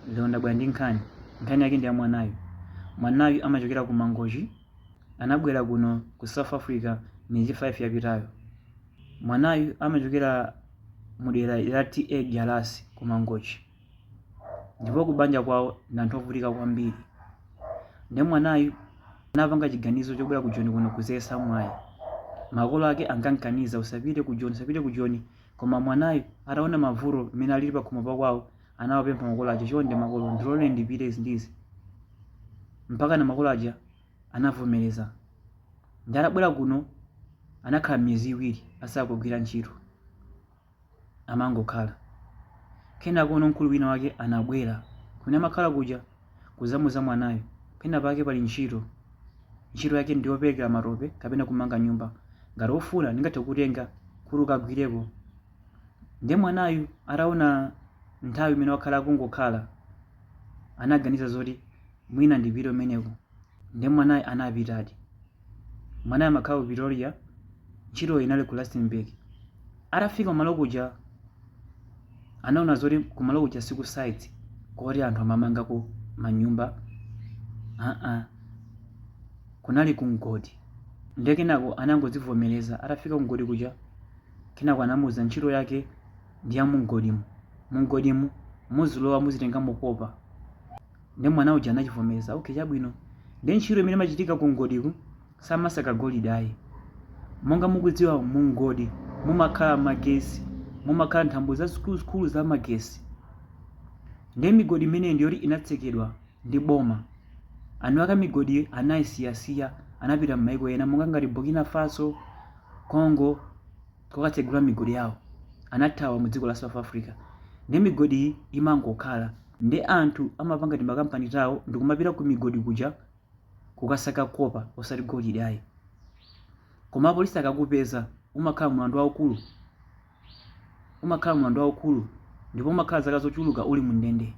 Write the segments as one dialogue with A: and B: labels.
A: Lero ndabwera ndi nkhani. Nkhani yake ndi ya mwanayu. Mwanayu amachokera ku Mangochi, anabwera kuno ku South Africa miyezi 5 yapitayo. Mwanayu amachokera mu dera la TA Jalasi ku Mangochi. Ndipo ku banja kwawo ndi anthu ovutika kwambiri. Ndi mwanayu anapanga chiganizo chobwera ku Joni kuno kudzayesa mwayi. Makolo ake ankamkaniza usapite ku Joni, usapite ku Joni. Koma mwanayu ataona mavuto mmene alili pakhomo pakwawo, anawapempha makolo aja, chonde makolo ndiloleni ndipite izi ndi izi, mpakana makolo aja anavomereza. Ndiye atabwera kuno anakhala miyezi iwiri asakugwira ntchito, amangokhala. Kenakono mkulu wina wake anabwera kumene amakhala kuja kudzamuza mwanayo, pena pake pali ntchito, ntchito yake ndi yoperekera matope kapena kumanga nyumba, ngati ufuna ndingathe kukutenga kuti ukagwireko. ndiye mwanayu ataona nthawi imene wakhala akungokhala anaganiza zoti mwina ndipite umeneko ndiye mwanayi anapitadi mwanayi amakhala ku pretoria ntchito inali ku rustenburg atafika kumalo kuja anaona zoti kumalo kuja siku site koti anthu amamangako manyumba aa kunali ku mgodi ndiye kenako anangodzivomereza atafika ku mgodi kuja Kenako anamuuza ntchito yake ndi ya mumgodimu. Mumgodimu muzilowa muzitengamo kopa. Ndiye mwana uja anachivomereza, okay chabwino. Ndiye ntchito imene imachitika ku mgodiku samasaka golide ayi. Monga mukudziwa mu mgodi mumakhala magesi, mumakhala nthambo zazikuluzikulu za magesi. Ndiye migodi imeneyi ndi yoti inatsekedwa ndi boma. Eni ake a migodi anaisiyasiya, anapita m'mayiko ena monga ngati Burkina Faso, Congo kukatsegula migodi yawo. Anathawa mu dziko la South Africa. Nde migodi iyi imangokhala. Nde anthu amapanga timakampani tawo ndikumapita ku migodi kuja kukasaka copper osati golide ayi. Koma apolisi akakupeza umakhala mulandu waukulu. umakhala mulandu waukulu ndipo umakhala zaka zochuluka uli mu ndende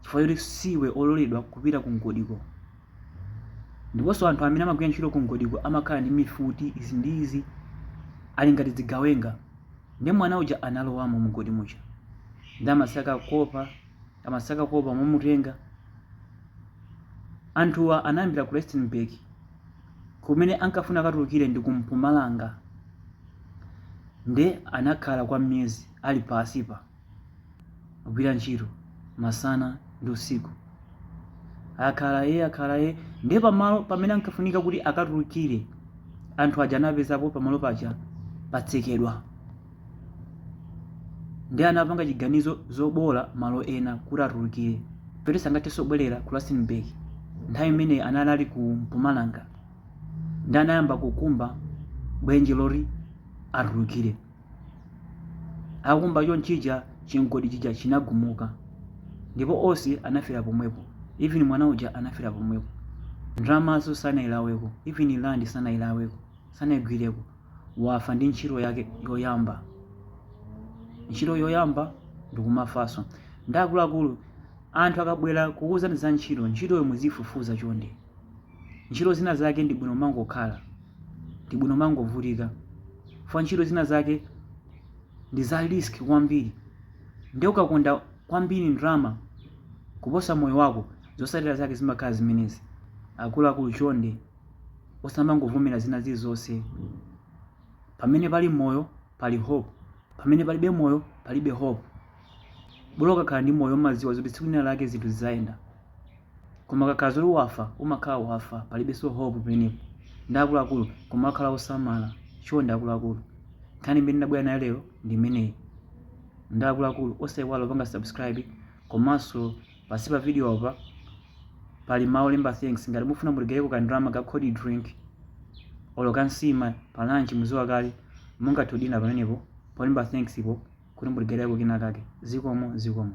A: chifukwa choti siwe ololedwa kupita ku mgodiko ndiponso anthu amene amagwira ntchito ku mgodiko amakhala ndi mifuti izi ndi izi ali ngati dzigawenga ndi mwana uja analowamo mgodi muja ndi amasaka kopa Amasaka kopa mwamutenga. Anthuwa anayambira ku Rustenburg kumene ankafunika akatulukire ndi ku Mpumalanga nde anakhala kwa miyezi ali pasipa kugwira ntchito masana ndi usiku. Akhala e akhala e nde pamalo pamene ankafunika kuti akatulukire anthu aja anapezapo pamalo paja patsekedwa. nde anapanga chiganizo zobola malo ena kuti atulukirepo poti sangathenso kubwerera ku rustenburg nthawi imeneyi anali ku mpumalanga nde anayamba kukumba dzenje loti atulukire akumba chonchija chimgodi chija chinagumuka ndipo onse anafera pomwepo even mwana uja anafera pomwepo ndalamazo sanailaweko even land sanailaweko sanaigwireko wafa ndi ntchito yake yoyamba ntchito yoyamba ndikumafanso nde akuluakulu anthu akabwera kukuuzani za ntchito ntchitoyo muzifufuza chonde ntchito zina zake ndi bwino kumangokhala ndi bwino kumangovutika fa ntchito zina zake ndi za risk kwambiri nde ukakonda kwambiri ndalama kuposa moyo wako zotsatira zake zimakhala zimenezi akuluakulu chonde osamangovomera zina zilizonse pamene pali moyo pali hope pamene palibe moyo palibe hope bolo ukakhala ndi moyo umadziwa zoti tsiku lina lake zinthu zidzayenda koma ukakhala zoti wafa umakhala wafa palibenso hope pamenepo nde akuluakulu kumakhala osamala choncho nde akuluakulu nkhani imene ndabwera nayo lero ndi imeneyi nde akuluakulu osaiwala kupanga subscribe komanso Pansi pa vidiyopa pali mawu olemba thanks. Ngati mufuna mutigayileko ka ndalama ka cold drink olo ka nsima pa lunch mudziwa kale mungathe kudina pamenepo polemba thanks po kuti mutigayileko kenakake. Zikomo, zikomo.